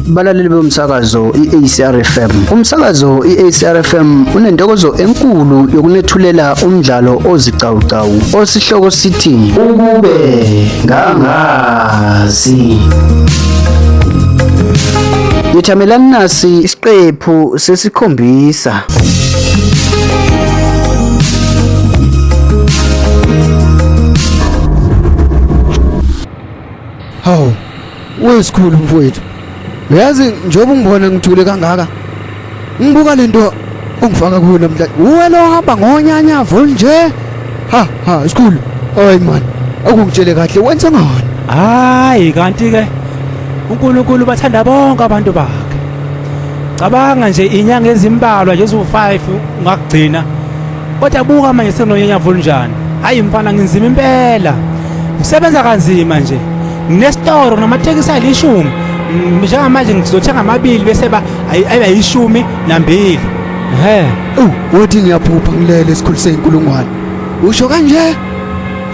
balaleli bomsakazo i-ACR FM umsakazo i-ACR FM unentokozo enkulu yokunethulela umdlalo ozicawucawu osihloko sithi ukube ngangazi Yethamelani nasi isiqephu sesikhombisa Hawu, wesikhulu mfowethu. Uyazi njengoba ungibona ngithule kangaka. Ngibuka lento ongifaka kuyo namhlanje. Uwe lo hamba ngonyanya volunje. Ha ha, isikhulu. Hayi man, akungitshele kahle wenza ngani? Hayi kanti ke uNkulunkulu bathanda bonke abantu bakhe. cabanga nje inyanga ezimbalwa nje eziwu-5 ungakugcina kodwa buka manje senonyanya volunjani hayi mfana nginzima impela ngisebenza kanzima nje nginesitoro namatekisi ayilishumi njengamanje ngizothenga amabili bese ba ayiba yishumi nambili he uthi ngiyaphupha ngilele esikhulu seyinkulungwane usho kanje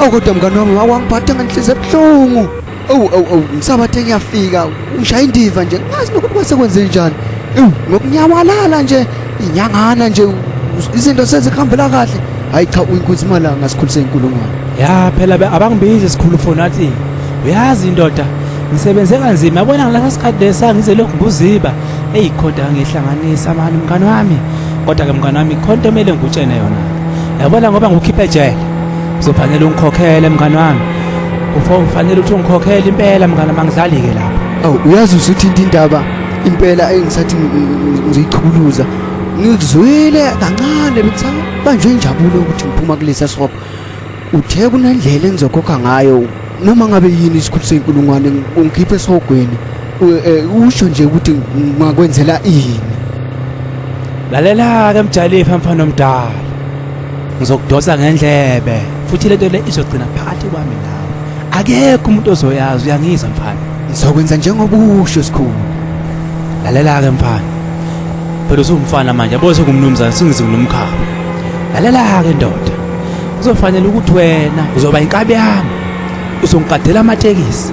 okodwa mngane wami wawangiphatha ngenhliziyo ebuhlungu Awu awu awu ngisabathe ngiyafika ushaya indiva nje ngazi nokuthi kwase kwenze njani. Ewu ngokunyawalala nje inyangana nje izinto sezihambela kahle. Hayi cha uyinkunzi malanga ngasikhulise inkulungwane. Ya phela abangibizi sikhulu foni athi uyazi indoda ngisebenze kanzima yabona ngilasa sikhathi lesa ngize lokhu nguziba eyi kodwa ngihlanganisa mani mngani wami kodwa-ke mngani wami khonto kumele ngikutshene yona yabona ngoba ngukhiphe ejele Uzofanele ungikhokhele mngani wami. Ufo ufanele uthi ungikhokhele impela mngani mangidlali ke lapha. Awu uyazi usuthinta indaba impela engisathi ngizichukuluza. Ngizwile kancane bekusabanjwe injabulo ukuthi ngiphuma kulesa sihopha. Uthe kunendlela engizokhokha ngayo noma ngabe yini isikhulu senkulungwane ungikhiphe esihogweni eh, usho nje ukuthi ngakwenzela ini lalela ke mjalifa mfana omdala ngizokudosa ngendlebe futhi lento le izogcina phakathi kwami nawe akekho umuntu ozoyazi uyangizwa mfana ngizokwenza njengoba usho sikhulu lalela ke mfana phela usumfana manje yabo sekumnumzane singizi ngilomkhaba lalela ke ndoda kuzofanele ukuthi wena uzoba inkabi yami uzongiqadela amatekisi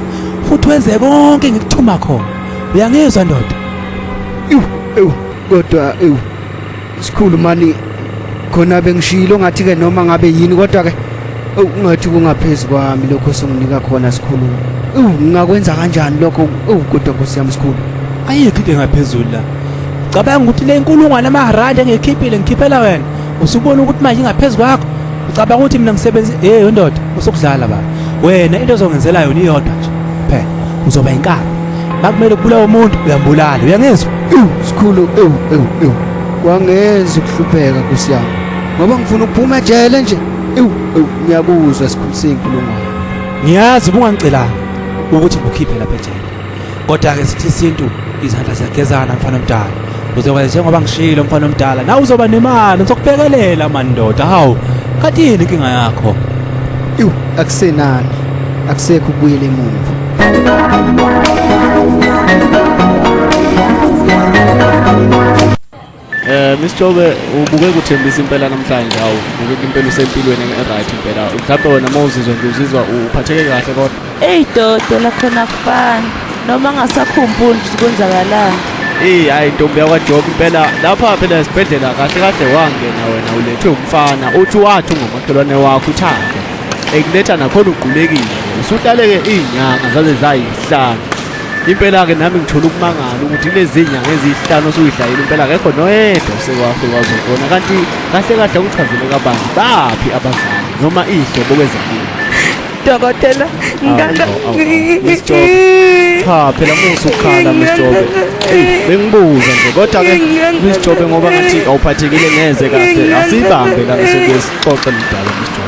futhi wenze konke engikuthuma khona uyangizwa ndoda ewu ewu kodwa ewu sikhulu mani khona bengishilo ngathi ke noma ngabe yini kodwa ke ungathi kungaphezi kwami lokho songinika khona sikhulu ewu ngingakwenza kanjani lokho ewu kodwa nkosi yami sikhulu ayikho into engaphezulu la cabanga ukuthi le nkulungwane amaharandi engiyikhiphile ngikhiphela wena usubona ukuthi manje ingaphezu kwakho ucabanga ukuthi mina ngisebenzi hey wendoda usukudlala baba wena into ozongenzela yona iyodwa nje phela uzoba inkaba makumele kubulawa umuntu uyambulala uyangizwa sikhulu ewu ewu ewu kwangenza ukuhlupheka nkosi yami ngoba ngifuna ukuphuma ejele nje ewu ewu ngiyakuzwa sikhulu senkulumo ngiyazi ubungangicelanga ukuthi ngikhiphe lapha ejele kodwa-ke sithi isintu izandla ziyagezana mfana omdala uzoba njengoba ngishilo mfana omdala nawe uzoba nemali ngizokubhekelela mandoda hawu kati yini inkinga yakho iwu akusenani akusekho ukubuyela emuva Eh Miss Jobe ubuke kuthembisa impela namhlanje awu ubuke impela usempilweni right impela mhlawumbe wena uma uzizwa nje uzizwa uphatheke kahle kodwa Ey dodo lakhona kufana noma ngasakhumbuli ukuthi kwenzakalani Eh hayi ntombi yakwa Job impela lapha phela esibhedlela kahle kahle wangena wena ulethwe umfana uthi wathi ungomakhelwane wakho uthanda ekuletha nakhona ugqulekile usudlaleke izinyanga zaze zayihlanu Impela-ke nami ngithola ukumangala ukuthi lezinyanga ezihlanu osuyidlayile impela akekho noyedwa osekwafike wazobona kanti kahle kahle akuchazele kabanzi baphi abazali noma iy'hlobo kwezempilo dokotela ngala cha phela musa ukukhala msjobe bengibuza nje kodwa ke msjobe ngoba ngathi awuphathekile neze kahle asibambe la ngisebesixoxe mdala msjobe